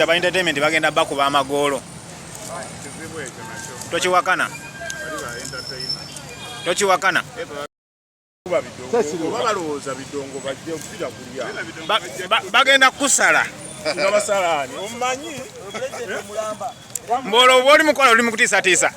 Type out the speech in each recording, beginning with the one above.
Aba entertainment bagenda bakuba amagoolo. Tokiwakana. Tokiwakana. Bagenda kusala. Mbolo oli mukola oli mukutiisatiisa.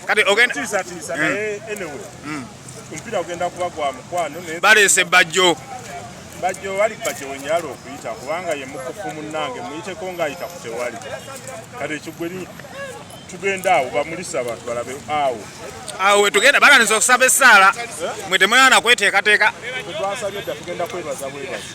kati ogenda tiisatiisa naye hmm. anyway hmm. omupiira ogenda kuba gwa mukwano baleese bajjo bajjo wali bajjo wenyala okuyita kubanga ye mukufu munnange muyiteko ng'ayita ku tewali kati ekigweri tugenda awo bamulisa abantu balabe awo awo wetugenda balanisa okusaba essaala eh? mwe temulana kweteekateeka twasabye dda tugenda kwebaza bwebazi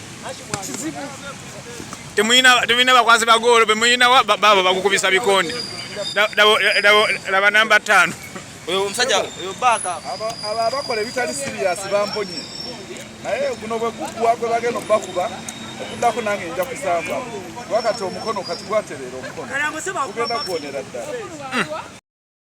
temulina bakwazi bagoolo bemulina baabo bagukubisa bikonde laba namba ttaano oyo omusajja oyo baaka abo abakola ebitali siriyasi bamponye naye guno bwe guggwa gwe bagenda okubakuba okuddako nange nja kusamba wakati omukono kati gwatereera omukono gugenda kuwonera ddala hmm.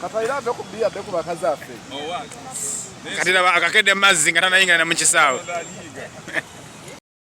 Katayira ave ku bbiya adde ku bakazi affe. Kati laba akakedde mazzi nga tanayingana na mu kisaawe.